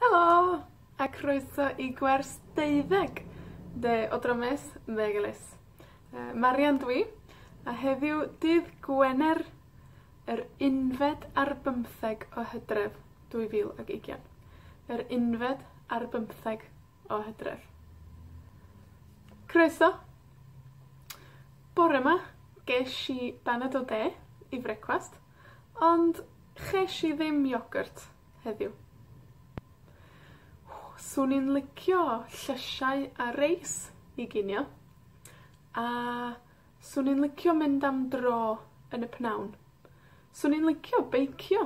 Helo, a croeso i gwers deuddeg de o Dramys Meggelys. Yy, Marian dw i, a heddiw dydd Gwener, yr unfed ar bymtheg o Hydref, dwy fil ag ugian. Yr unfed ar bymtheg o Hydref. Croeso. Bore 'ma, gesh i banad o de i frecwast, ond chesh i ddim iogyrt heddiw. Swn i'n licio llysiau a reis i ginio, a 'swn i'n licio mynd am dro yn y pnawn. 'Swn i'n licio beicio.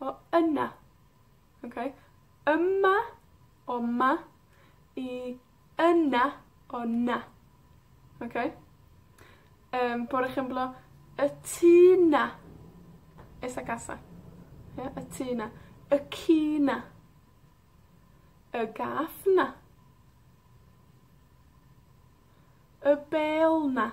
O yna. Oce? Yma, o 'ma, i yna, o 'na. Oce? Yym, por ejemplo, y tŷ 'na. Esa casa. Ie? Y tŷ 'na. Y ci 'na. Y gath 'na. Y bêl 'na.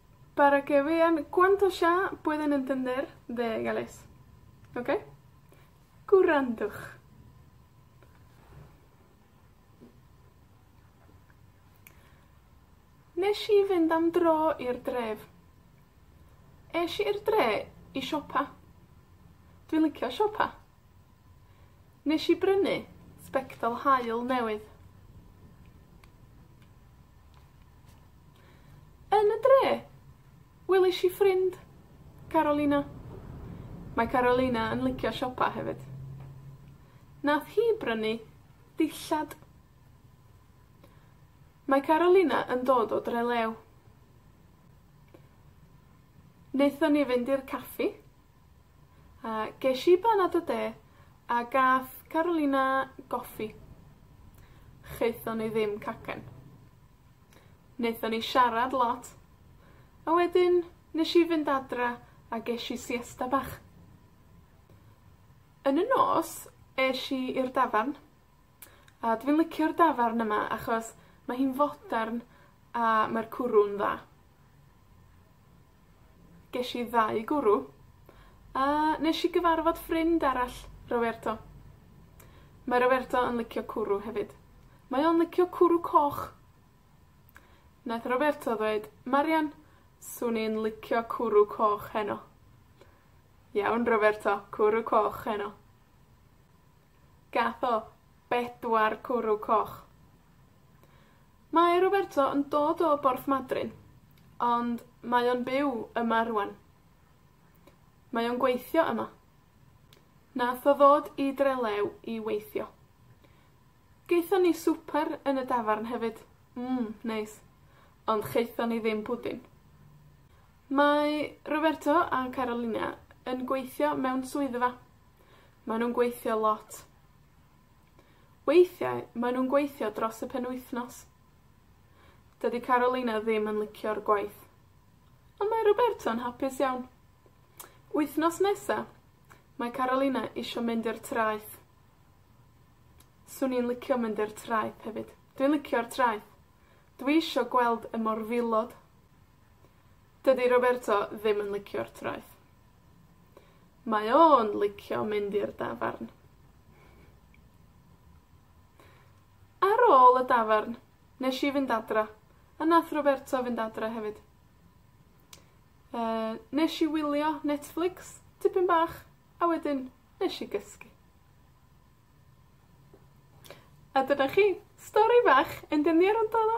Para que vean cuánto ya pueden entender de Gales. Oce? Gwrandwch. Nesh i fynd am dro i'r dref. Esh i i'r dre i siopa. Dwi'n licio siopa. Nesh i brynu sbectol haul newydd. Yn y dre, welish i ffrind, Carolina. Mae Carolina yn licio siopa hefyd. Nath hi brynu dillad. Mae Carolina yn dod o Dre-lew. Naethon ni fynd i'r caffi, a gesh i banad o de, a gath Carolina goffi. Chaethon ni ddim cacen. Naethon ni siarad lot, a wedyn nesh i fynd adra a gesh i siesta bach. Yn y nos, esh i i'r dafarn, a dwi licio'r dafarn yma, achos mae hi'n fodern, a mae'r cwrw'n dda. Gesh i ddau gwrw, a nesh i gyfarfod ffrind arall, Roberto. Mae Roberto yn licio cwrw hefyd. Mae o'n licio cwrw coch. Nath Roberto ddweud, Marian, 'swn i'n licio cwrw coch heno. Iawn, Roberto, cwrw coch heno. Gath o bedwar cwrw coch. Mae Roberto yn dod o Borthmadryn, ond mae o'n byw yma rŵan. Mae o'n gweithio yma. Nath o ddod i Trelew i weithio. Gaethon ni swper yn y dafarn hefyd. Mm, neis. Ond chaethon ni ddim pwdin. Mae Roberto a Carolina yn gweithio mewn swyddfa. Mae nw'n gweithio lot. Weithiau mae nw'n gweithio dros y penwythnos. Dydi Carolina ddim yn licio'r gwaith. Ond mae Roberto'n hapus iawn. Wythnos nesa, mae Carolina isio mynd i'r traeth. 'Swn i'n licio mynd i'r traeth hefyd. Dwi'n licio'r traeth. Dwi isho gweld y morfilod. Dydi Roberto ddim yn licio'r traeth. Mae o yn licio mynd i'r dafarn. Ar ôl y dafarn, nesh i fynd adra, a nath Roberto fynd adra hefyd. Yy, nesh i wylio Netflix tipyn bach, a wedyn nesh i gysgu. A dyna chi. Stori fach, ond yn ddiarth o!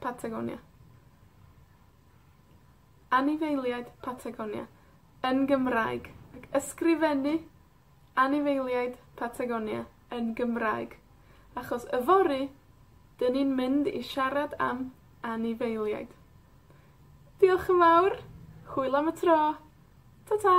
Patagonia. Anifeiliaid Patagonia, yn Gymraeg. Ysgrifennu anifeiliaid Patagonia yn Gymraeg, achos yfory 'dyn ni'n mynd i siarad am anifeiliaid. Diolch yn fawr, hwyl am y tro, ta ta!